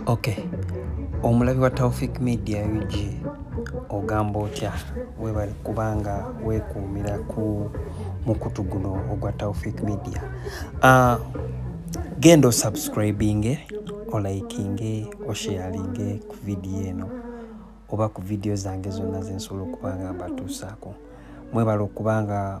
Okay. Omulabi wa Taufik Media UG ogamba otya webale kubanga wekuumira ku mukutu guno ogwa Taufik Media. Uh, genda osubscribinge olikinge osharinge ku vidiyo eno oba ku vidiyo zange zonna zensobola okuba nga mbatuusaako mwebale okubanga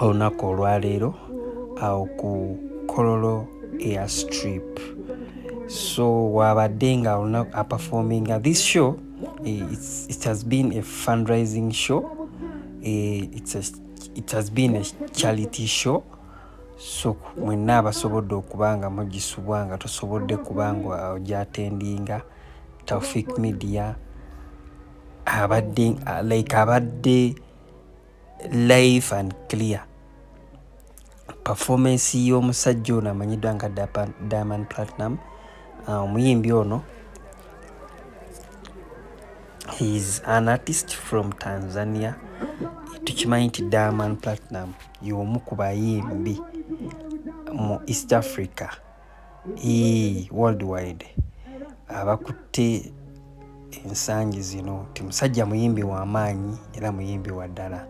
olunaku olwaleero awo ku kololo air strip so wabadde nga olunaku aperforminga this show eh, it's, it has been a fundraising show eh, it's a, it has been a charity show so mwenna abasobodde okuba nga mugisubwa nga tosobodde kuba nga ogyatendinga taufik media abadde like abadde live and clear performance y'omusajja ono amanyiddwa nga diamond platinum uh, omuyimbi uh, ono heis an artist from tanzania tukimanyi nti diamond platinum y'omu ku bayimbi mu east africa Eeh world wide abakutte ensangi zino nti musajja muyimbi wa maanyi era muyimbi wa ddala.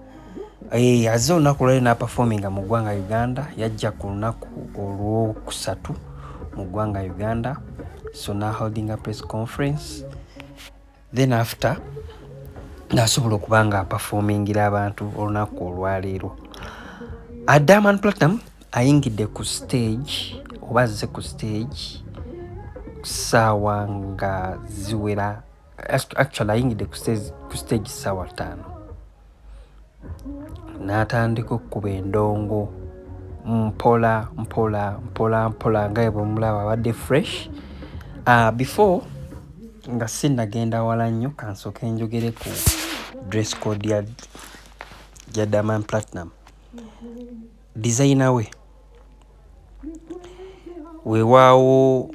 Eeh azze olunaku olwaleero n'apafoominga mu ggwanga Uganda, yajja ku lunaku Olwokusatu mu ggwanga Uganda so n'aholdinga press conference. then after nasobola okuba nga apafomingira abantu olunaku olwaleero adaman platinum ayingidde ku stage oba azze ku stage saawa nga ziwera actually ayingidde ku stage saawa ttaano n'atandika okukuba endongo mpola mpola mpola mpola nga bwe bumulaba abadde fresh ah, before nga sinnagenda wala nnyo kansooke njogere ku dress code ya ya daman platinum dizayina we weewaawo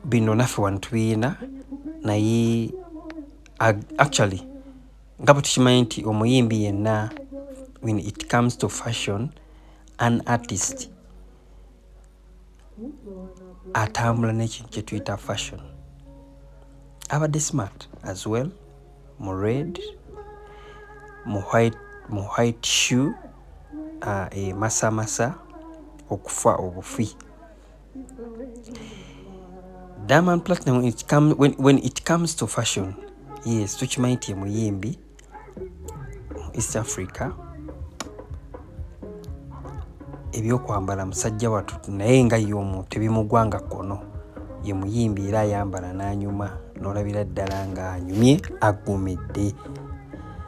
bino naffe wano tubiyina naye actually nga bwe tukimanyi nti omuyimbi yenna when it comes to fashion an artist atambula n'ekintu kye tuyita fashion abadde smart as well mu red mu white mu white shoe uh, emasamasa okufa obufi Diamond Platinum when it, come, when, when it comes to fashion yes tukimanyi nti yemuyimbi East Africa ebyokwambala musajja watu naye nga ye omuntu tebimugwanga kono ye muyimbi era ayambala n'anyuma n'olabira ddala ng'anyumye aggumidde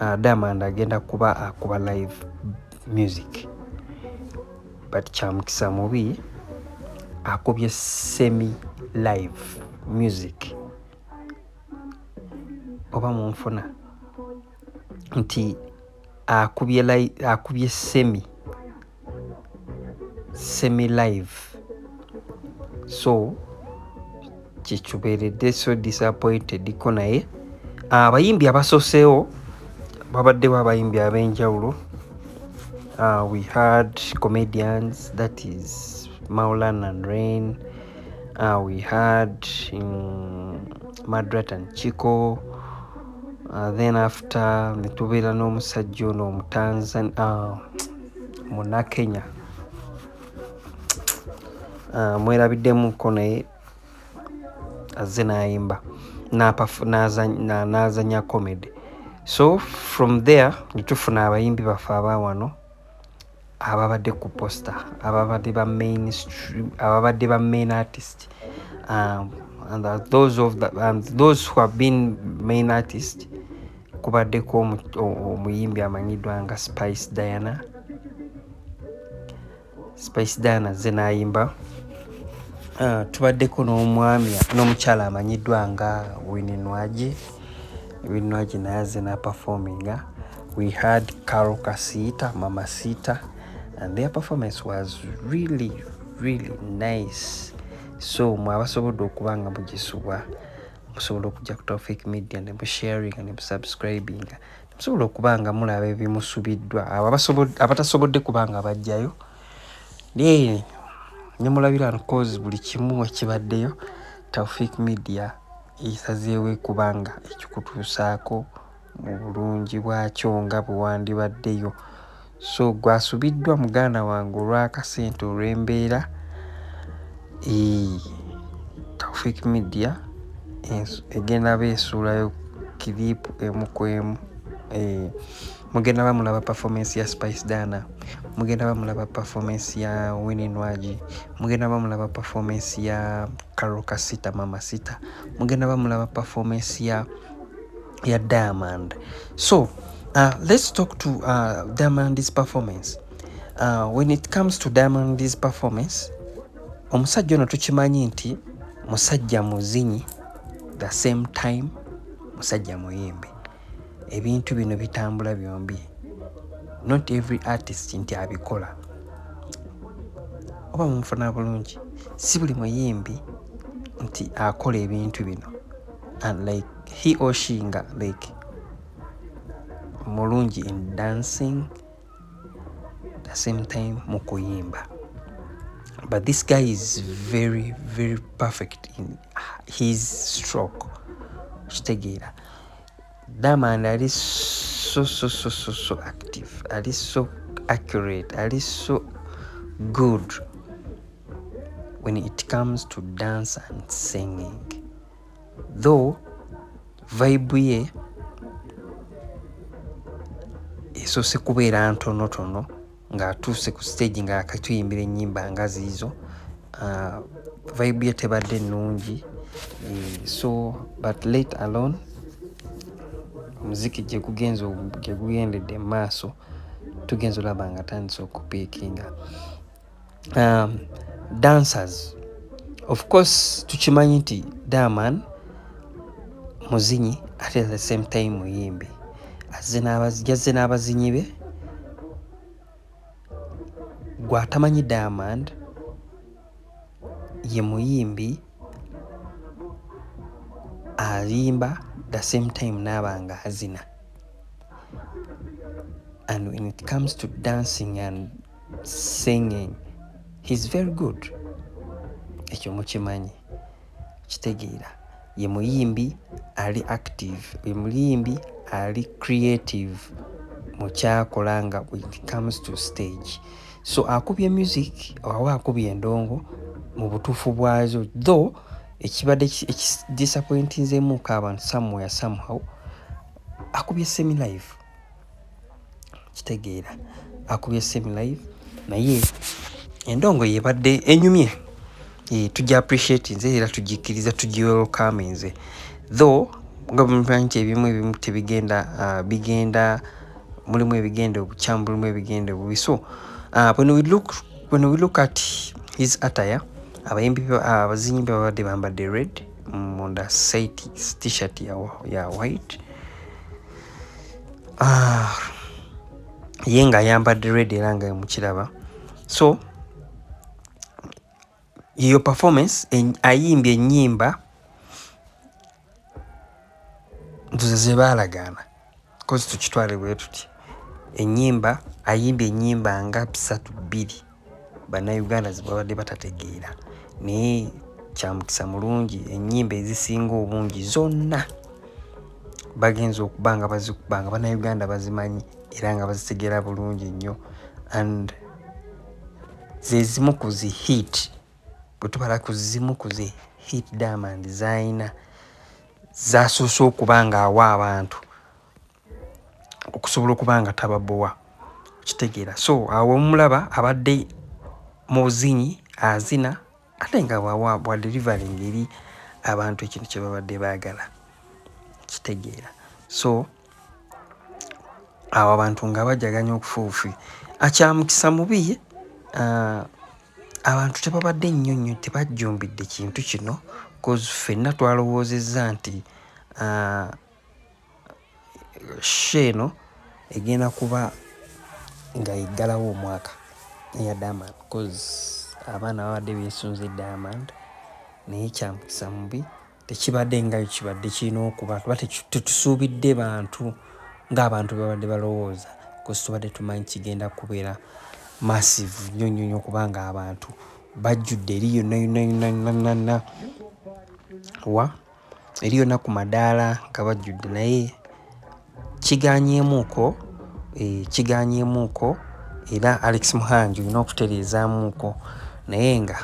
uh, Diamond agenda kuba akuba live music but kyamukisa mubi akubye semi live music oba munfuna nti akubye, akubye semi semi live so kyekiberedde so disappointed ko naye ah, abayimbi abasoseewo babaddewo abayimbi ab'enjawulo uh, we had comedians that is maulan and rain uh, we had um, madrat and chico uh, then after netubeera n'omusajja ono omutanzan uh, Munnakenya ah, mwerabiddemuko naye azze n'ayimba n'azanya comedy so from there ne tufuna abayimbi baffe aba wano ababadde ku poster ababadde ba mainstream ababadde ba main artist um, and those, of the, and those who have been main artist kubaddeko omuyimbi amanyiddwa nga spice diana spice diana ze nayimba ah, tubaddeko n'omwami n'omukyala amanyiddwa nga wininwagi wininwagi naye aze naperforminga we had carol kasita mama sita and their performance was really really nice so mwabasobodde okuba nga mugisubwa musobola okujja ku Tawfiq Media ne musharinga ne musubscribinga ne musobola okuba nga mulaba ebimusubiddwa abo abatasobodde kuba nga bajjayo naye ne mulabira cause buli kimu ekibaddeyo Tawfiq Media esazeewo kuba nga ekikutuusaako mu bulungi bwakyo nga bwe wandibaddeyo so gwe asubiddwa muganda wange olw'akasente olw'embeera taufik media egenda ba esuulayo kiriipu emu ku emu mugenda bamulaba performance ya spice dana mugenda bamulaba performance ya winnie nwagi mugenda bamulaba performance ya carol kasita mama sita mugenda bamulaba performance ya ya diamond so uh, let's talk to uh, diamond's performance uh, when it comes to diamond's performance omusajja ono tukimanyi nti musajja muzinyi the same time musajja muyimbi ebintu bino bitambula byombi not every artist nti abikola oba mumufuna bulungi si buli muyimbi nti akola ebintu bino and like he or she nga like mulungi in dancing the same time mu kuyimba but this guy is very very perfect in his stroke kitegeera Diamond ali so so so so so active ali so accurate ali so good when it comes to dance and singing though vibe ye esoose kubeera ntonotono ng'atuuse ku siteegi nga yakatuyimbira ennyimba nga ziizo ah, vibe ye tebadde nnungi eh, so but late alone omuziki gyegugenze gyegugendedde mu maaso tugenza olaba nga atandise okupiikinga um, dancers of course tukimanyi nti daman muzinyi ate the same time muyimbi jazze n'abazinyi be gwatamanyi diamond ye muyimbi ayimba the same time naaba nga azina and when it comes to dancing and singing he's very good ekyo mukimanyi kitegeera ye muyimbi ali active ye muyimbi ali creative mukyakola nga it comes to stage so akubye music awa akubye endongo mu butuufu bwazo though ekibadde ekidisappointinzemuko abantu somewhere somehow akubye semi live kitegeera akubye same live naye endongo yebadde enyumye e, tujja appreciate nze era tugikkiriza tugiwelkame nze though nga bwemumanyi nti ebimu ebimu tebigenda uh, bigenda mulimu ebigenda obukyamu mulimu ebigenda obubi so uh, when we look when we look at his attire abayimbi abazinyi uh, babadde bambadde red munda saiti t-shirt ya, ya white ah, ye nga ayambadde red era nga mukiraba so yeyo performance ayimbye ennyimba ntuze zebaalagaana kozi tukitwale bwe tuti ennyimba ayimbye ennyimba nga bisatu bbiri Bannayuganda ze babadde batategeera naye kyamukisa mulungi ennyimba ezisinga obungi zonna bagenza okuba nga bazikuba nga bannayuganda bazimanyi era nga bazitegeera bulungi nnyo and ze zimu ku zi hit bwe tubala ku zimu ku zi hit diamond zaalina zaasoose okuba ng'awa abantu okusobola okuba nga tababowa okitegeera so awo omulaba abadde mu buzinyi azina ate nga wawa bwa delivery ngeri abantu ekintu kye babadde baagala kitegeera so awo abantu nga bajaganya okufuufi akyamukisa mubi uh, abantu tebabadde nnyo nnyo tebajjumbidde kintu kino bcause ffenna twalowoozezza nti uh, sho eno egenda kuba nga eggalawo omwaka eya diamond coz abaana babadde beesunze diamond naye kyamukisa mubi tekibadde nga kibadde kirina okuba kuba tetusuubidde bantu ng'abantu babadde balowooza kozi tubadde tumanyi kigenda kubeera massive nnyo nnyo nnyo kubanga abantu bajjudde eri yonna yonna yonna yonna yonna wa Eriyo na ku madaala nga bajjudde naye kigaanyeemuuko, eeh kigaanyeemuuko era Alex Muhangi olina okutereezaamuuko naye nga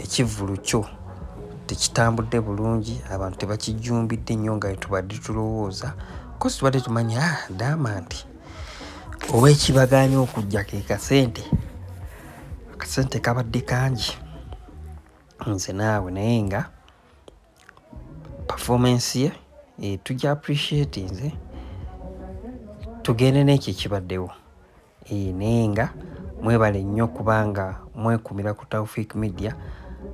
ekivvulu kyo tekitambudde bulungi, abantu tebakijjumbidde nnyo nga bwe tubadde tulowooza because tubadde tumanyi haa Diamond oba ekibagaanyi okujja ke kasente, akasente kabadde kangi. nze naawe naye nga performance ye eh, tugya appreciate nze tugende n'ekyo ekibaddewo eh, naye nga mwebale nnyo kubanga mwekumira ku taufik media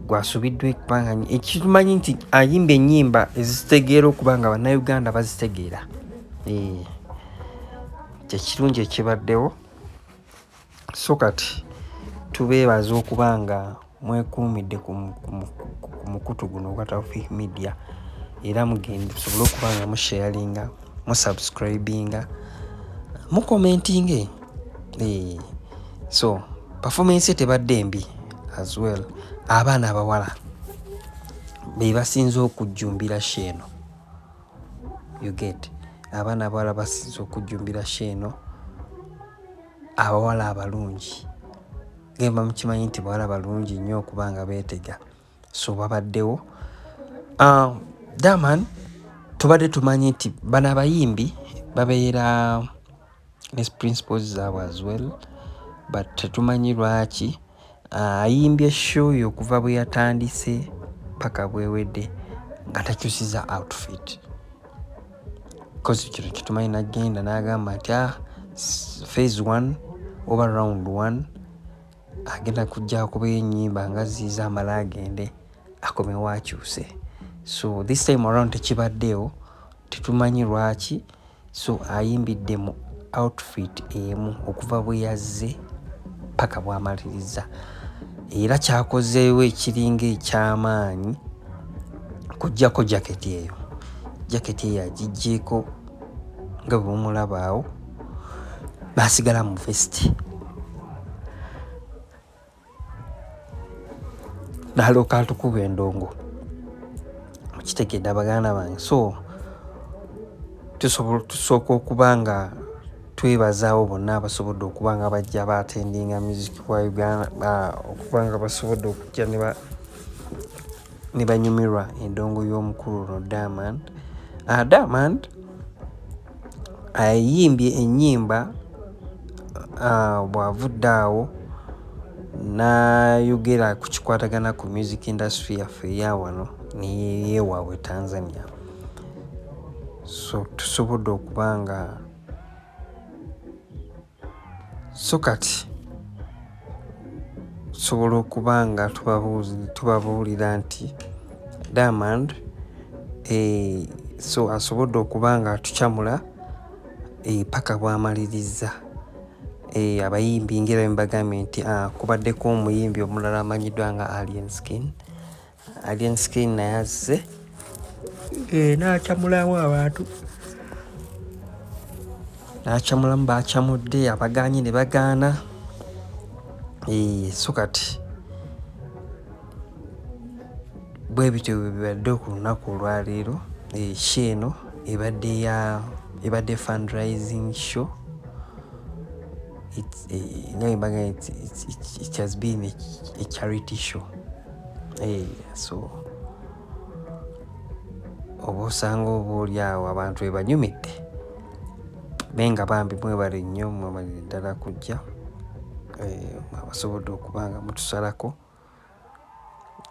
gwasubiddwa ekubanga ekitumanyi nti ayimba ennyimba ezitegeera okuba nga bannayuganda bazitegeera eh, kyekirungi ekibaddewo so kati tubeebaza okuba nga mwekuumidde ku mukutu guno ogwa tawfiq media era mugende tusobole okuba nga musharinga musubscribinga mukomentinge eh, so performance ye tebadde mbi as well abaana abawala be basinze okujjumbira sheeno you get abaana abawala basinze okujjumbira sheeno abawala abalungi gemba mukimanyi nti bawala balungi nnyo okuba nga beetega so babaddewo ah, daman tubadde tumanyi nti bano abayimbi babeera ne principles zaabwe as well but tetumanyi lwaki Ayimbye show yo okuva bwe yatandise paka bwewedde nga takyusiza outfit kozi kino kitumanyi nagenda nagamba nti ah, phase one oba round one agenda kujja kuba enyimba nga ziiza amala agende akomewo akyuse so this time around tekibaddeewo tetumanyi lwaki so ayimbidde mu outfit emu okuva bwe yazze paka bw'amaliriza era kyakozeewo ekiringa eky'amaanyi kujjako jaketi eyo jaketi eyo agiggyeko nga bwe mumulabaawo n'asigala mu vesiti dala okatukuba endongo mukitegedde abaganda bange so tusooka okuba nga twebazaawo bonna abasobodde okuba nga bajja batendinga music wa uganda okuba nga basobodde okujja ne banyumirwa endongo y'omukulu no diamond ah, diamond ayimbye ennyimba uh, bw'avudde awo n'ayogera ku kikwatagana ku music industry yaffe eya wano neyewaabwe tanzania so tusobodde okuba nga so kati tusobola okuba nga tubabuulira nti diamond eh, so asobodde okuba nga atucamula eh, paka bwamalirizza eh, abayimbi ngera mbagambye nti ah, kubaddeko omuyimbi omulala amanyiddwa nga alien skin Alien Skin naye azze eh, n'acamulamu abantu n'acamulamu baacamudde abagaanye ne bagaana eh, so kati bwe bityo bibadde ku lunaku olwaleero eh, sho eno ebadde ya ebadde fundraising show it's, uh, it's, it's, it's, it has been a, a charity show Hey, so oba osanga oba oli awo abantu ebanyumidde naye nga bambi mwebale nnyo mwemalire ddala kujja eh, abasobodde okuba nga mutusalako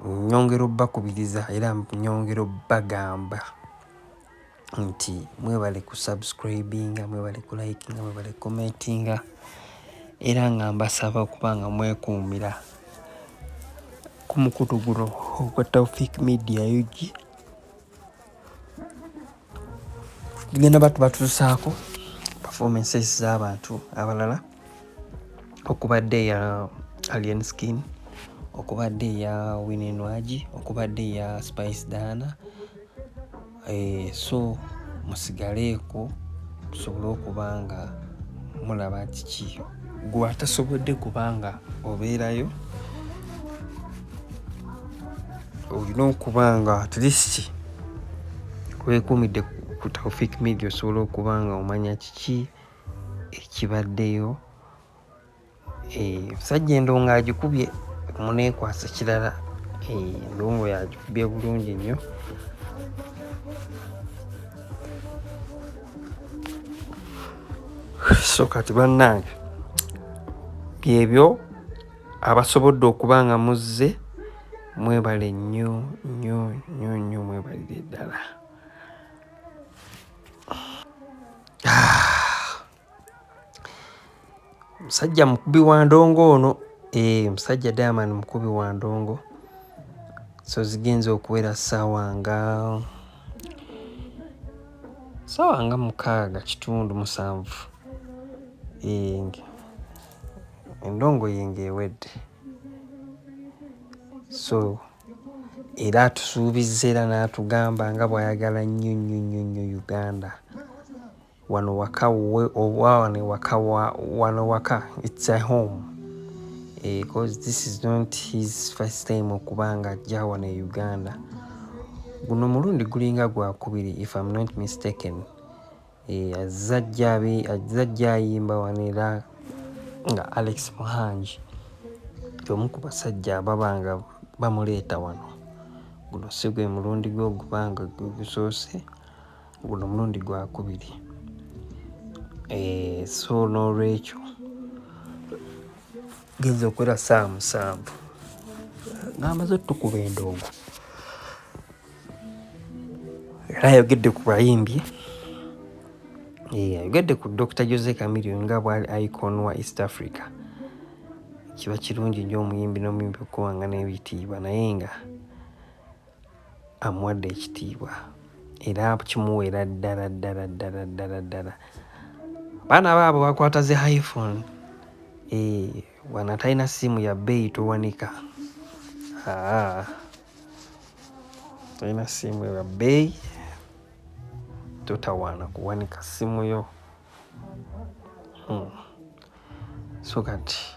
nyongera obbakubiriza era nyongera obbagamba nti mwebale ku subscribinga mwebale ku likinga mwebale commentinga era nga mbasaba okuba nga mwekuumira ku mukutu guno ogwa taufik media ug tugenda batu batuusaako performances z'abantu abalala okubadde eya alien skin okubadde eya winenwagi okubadde eya spice dana Eh, so musigaleeko tusobole okuba nga mulaba kiki gwe atasobodde kubanga obeerayo olina okuba nga atlist wekuumidde ku taufik media osobola okuba nga omanya kiki ekibaddeyo Omusajja eh, endongo agikubye muneekwasa kirala eh, endongo yagikubye bulungi nnyo so kati bannange byebyo abasobodde okuba nga muzze mwebale nnyo nnyo nnyo nnyo mwebalire ddala musajja mukubi wa ndongo ono e, eh, musajja diamond mukubi wa ndongo so zigenza okuwera saawa nga saawa nga mukaaga kitundu musanvu eh, endongo yenge ewedde so era atusuubizza era n'atugamba nga bw'ayagala nnyo nnyo nnyo nnyo uganda Wano waka we oba wano ewaka wa wano waka it's a home because eh, this is not his first time okuba nga ajja wano e Uganda. Guno mulundi gulinga gwakubiri if I'm not mistaken. Eh, azza ajja abe azza ajja ayimba wano era nga Alex Muhangi y'omu ku basajja ababa nga bamuleeta wano. Guno si gwe mulundi gwe ogubanga gwe gusoose. guno mulundi gwakubiri eh, so n'olwekyo genza okwera saa musanvu ng'amaze otukuba endongo era ayogedde ku bayimbi eh, ayogedde ku dr jose camilio nga bwali icon wa east africa kiba kirungi nnyo omuyimbi n'omuyimbi okuwanga n'ebitiibwa naye nga amuwadde ekitiibwa era kimuweera ddala ddala ddala ddala ddala baana baabo bakwata zi hiphone eh, wana talina siimu ya bbeeyi towanika ah. talina siimu ya bbeeyi totawaana kuwanika ssimu yo hmm. so kati